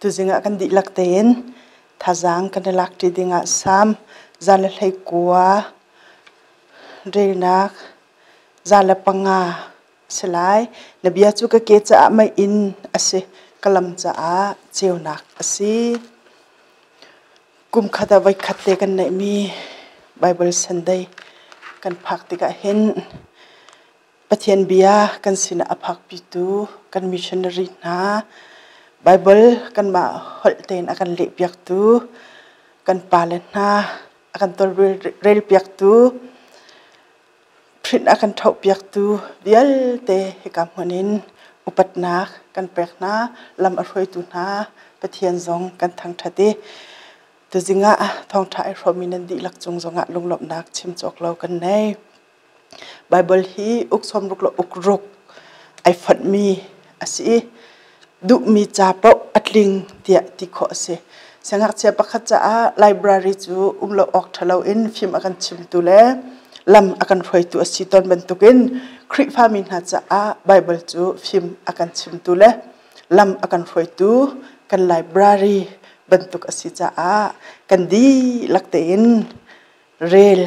Tuzing ah kan dihlak tein thazaang kan i lak ṭi dingah sam, zan le hleikua, reinak, zan le panga a si lai. Na bia cu ka ke caah meiinn a si, ka lam caah ceunak a si. Kum khat ah voikhat te kan neihmi Baibal Sunday kan phak tikah hin Pathian Bia kan sinah a phakpitu kan missionary hna, Baibal kanmah holh tein a kan lehpiaktu, kan pale hna a kan tawlrelpiaktu, print a kan thohpiaktu vialte hika hmun in upatnak kan pek hna, lam a hruaitu hna Pathian zong kan thangṭhat i tuzing ah thawngṭha i hrawmmi nan dihlak cung zongah lunglawmhnak chim cawk lo kan nei. Baibal hi uk sawmruk le ukruk ai fonhmi a si i duhmi ca paoh a tling tiah ti khawh a si. Siangngakchia pakhat caah library cu um lo awk ṭhalo in fim a kan chimtu le lam a kan hruaitu a si tawn bantukin Khrihfami hna caah Baibal cu fim a kan chimtu le lam a kan hruaitu kan library bantuk a si caah kan dihlak tein rel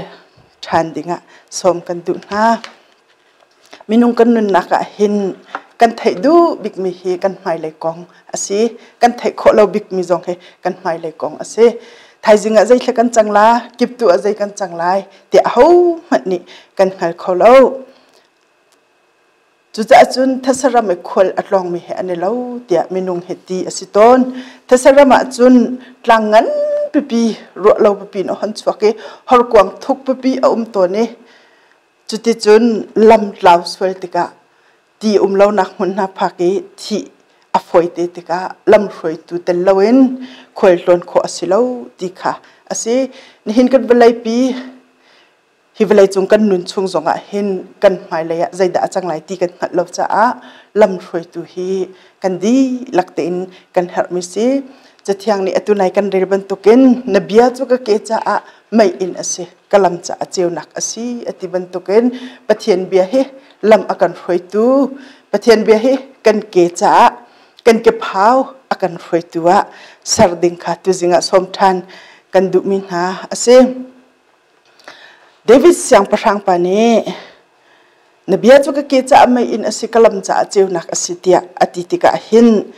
ṭhan dingah sawm kan duh hna. Minung kan nunnak ah hin kan theih duh bikmi hi kan hmailei kong a si. Kan theih khawh lo bikmi zong hi kan hmailei kong a si. Thaizing ah zeitluk kan cang la, kip tu ah zei kan cang lai, tiah ahohmanh nih kan hngal kho lo. Cucaah cun thasaram i khual a tlawngmi he an i lo tiah minung he ti a si tawn. Thasaram ah cun tlang ngan pipi ruah lo pipi in a hon chuak i horkuang thuk pipi a um tawn i cuticun lam tlau sual tikah ti um lonak hmun hna phak i thih a fawite tikah lamhruaitu tel loin khualtlawn khawh a si lo ti kha a si. Nihin kan vawleipi hi vawleicung kan nun chung zongah hin kan hmailei ah zeidah a cang lai ti kan hngalh lo caah lamhruaitu hi kan dihlak tein kan herhmi si cathiang nih atu nai kan rel bantukin na bia cu ka ke caah mei in a si ka lam caah ceunak a si a ti bantukin pathian bia hi lam a kan hruaitu pathian bia hi kan ke caah kan kephau a kan hruaitu ah ser ding kha tuzing ah sawm ṭhan kan duhmi hna a si David siangpahrang pa nih na bia cu ka ke caah mei in a si ka lam caah ceunak a si tiah a ti tikah hin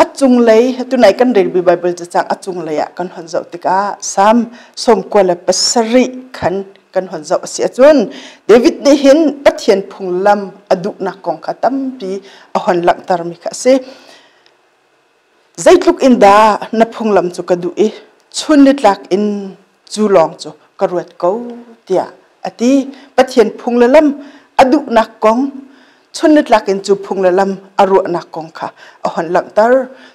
a cunglei tunai kan relmi Baibal cacang a cunglei ah kan hon zoh tikah Salm sawmkua le pasarih khan kan hon zoh a si ahcun David nih hin Pathian phunglam a duhnak kong kha tampi a hon langhtermi kha a si. Zeitluk in dah na phunglam cu ka duh i chun nitlak in cu lawng cu ka ruat ko tiah a ti. Pathian phung le lam a duhnak kong chun nitlak in cu phung le lam a ruahnak kong kha a hon langhter.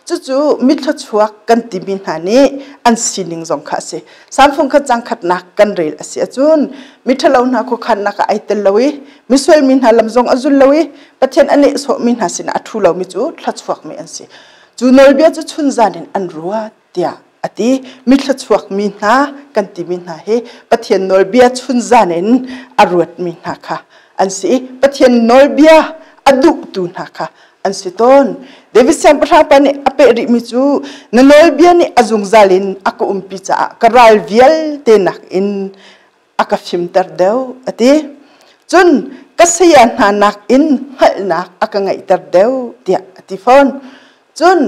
Cucu mithlachuak kan timi hna nih an sining zong kha a si. Salmfung kha cang khatnak kan rel a si ahcun miṭhalo hna khuakhannak ah ai tel lo i misual mi hna lam zong a zul lo i pathian a nehsawh mi hna sinah a thu lomi cu thluachuakmi an si cu nawlbia cu chun zan in an ruat tiah a ti mi thluachuak mi hna kan timi hna hi pathian nawlbia chun zan in a ruat mi hna kha an si i pathian nawlbia a duhtu hna kha an si tawn David siangpahrangpa nih a peh rih mi cu na nawlbia nih a zungzal in a ka umpi caah ka ral vialte nak in a ka fimter deuh a ti cun ka saya hna nakin hngalhnak a ka ngeihter deuh tiah a ti fawn cun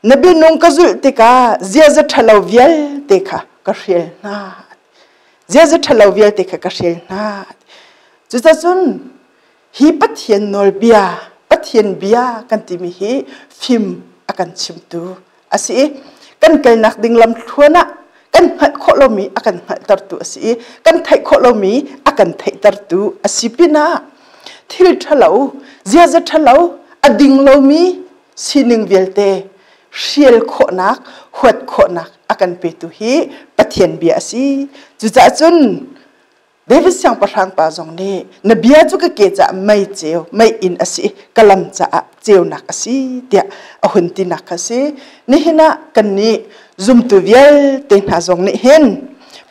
na binung ka zulh tikah ziaza ṭhalo vialte kha ka hrial hna ziaza ṭhalo vialte kha ka hrial hna cucacun hi Pathian nawlbia, Pathian bia kan timi hi fim a kan chimtu a si i kan kalnak ding lamthluan ah kan hngalh khawh lomi a kan hngalhtertu a si i kan theih khawh lomi a kan theihtertu a si pinah thil ṭhalo, ziaza ṭhalo, a ding lomi sining vialte hrial khawhnak, huat khawhnak a kan petu hi Pathian bia a si. Cucaah cun David siangpahrang pa zong nih na bia cu ka ke caah mei ceu mei inn a si ka lam caah ceunak a si tiah a hun tinak kha si nihin ah kan nih zumtu vialte hna zong nih hin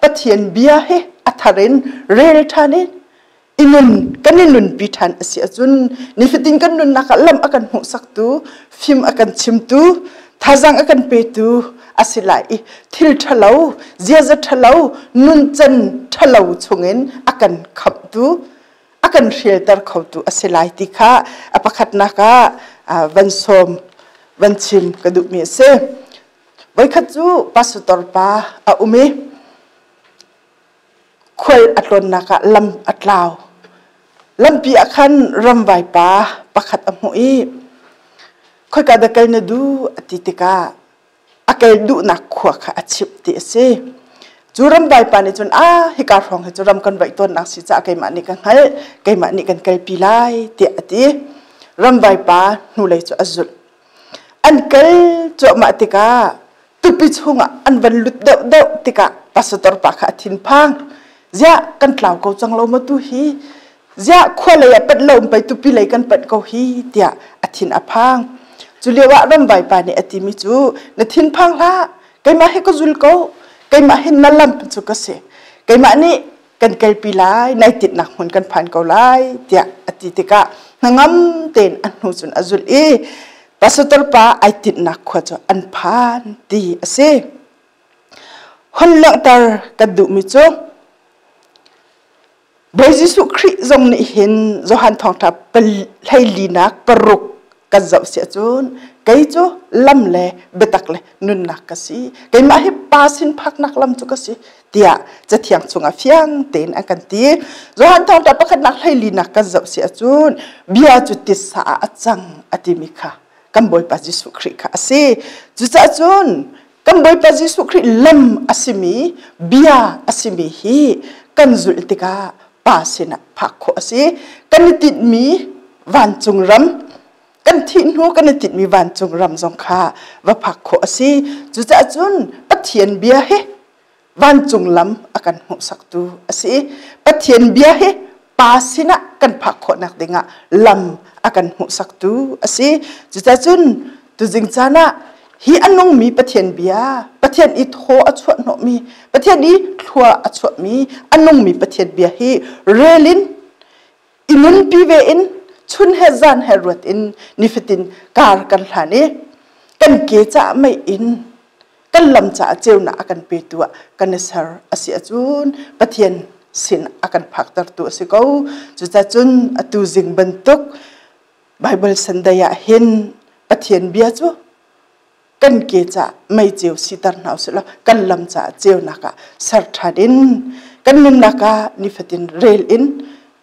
Pathian bia hi a thar in rel ṭhan in i nun kan i nunpi ṭhan a si ahcun nifatin kan nunnak ah lam a kan hmuhsaktu fim a kan chimtu thazang a kan petu asilai i thil ṭhalo ziaza ṭhalo nuncan ṭhalo chungin a kan khamhtu a kan hrialter khotu a si lai ti kha a pakhatnak ah van sawm van chim ka duhmi a si voikhat cu pastor pa a um i khual a tlawnnak ah lam a tlau. Lampi ah khan ramvai pa pakhat a hmuh i khoika dah kal na duh a ti tikah a kal duhnak khua kha a chimh ti a si. Cu ramvai pa nih cun a hika hrawng hi cu ram kan vaih tawnnak si caah keimah nih ka hngalh keimah nih kan kalpi lai tiah a ti. Ramvai pa hnulei cu a zulh. An kal cuahmah tikah tupi chungah an van lut deuh deuh tikah pastor pa kha a thinphang ziah kan tlau ko cang lo ma tu hi ziah khua lei ah panh lo um pei tupi lei kan panh ko hi tiah a thin a phang cu lio ah ramvai pa nih a timi cu na thinphang hlah keimah hi ka zul ko keimah hi na lam cu ka si keimah nih kan kalpi lai nai tinak hmun kan phan ko lai tiah a ti tikah hnangam tein a hnu cun a zulh i pastor pa ai tinhnak khua cu an phan ti a si hon langhter kan duhmi cu Bawi Jesuh Khrih zong nih hin Johan thawngtha hleilinak paruk kan zoh siah cun kei cu lam le biatak le nunnak ka si keimah hi pa sin phaknak lam cu ka si tiah cathiang chungah fiang tein a kan ti Johan thawngṭah pakhatnak hleilinak kan zoh siah cun bia cu tisa ah a cang a timi kha kan Bawipa Jesuh Khrih kha a si cucahcun Kan Bawipa Jesuh Khrih lam a simi bia a simi hi kan zulh tikah pa sinah phak khawh a si. Kan i tinhmi vancung ram kan thih hnu kan i tinhmi vancung ram zong kha va phak khawh a si. Cucaah cun Pathian bia hi vancung lam a kan hmuhsaktu a si i Pathian bia hi pa sinah kan phak khawhnak dingah lam a kan hmuhsaktu a si cucacun tuzing caan ah hi a nungmi Pathian bia Pathian i thaw a chuahhnawhmi Pathian i thlua a chuahmi a nungmi Pathian bia hi relin i nunpi ve in chun he zan he ruat in nifatin kar kan hlan i kan ke cah mei in kan lam caah ceunak a kan petu ah kan i ser a si ahcun Pathian sin a kan phaktertu a si ko cucacun atu zing bantuk Bible Sunday ah hin Pathian bia cu kan ke ca mei ceu siter hna usih kan lam caah ceunak ah ser ṭhan in kan nunnak ah nifatin rel in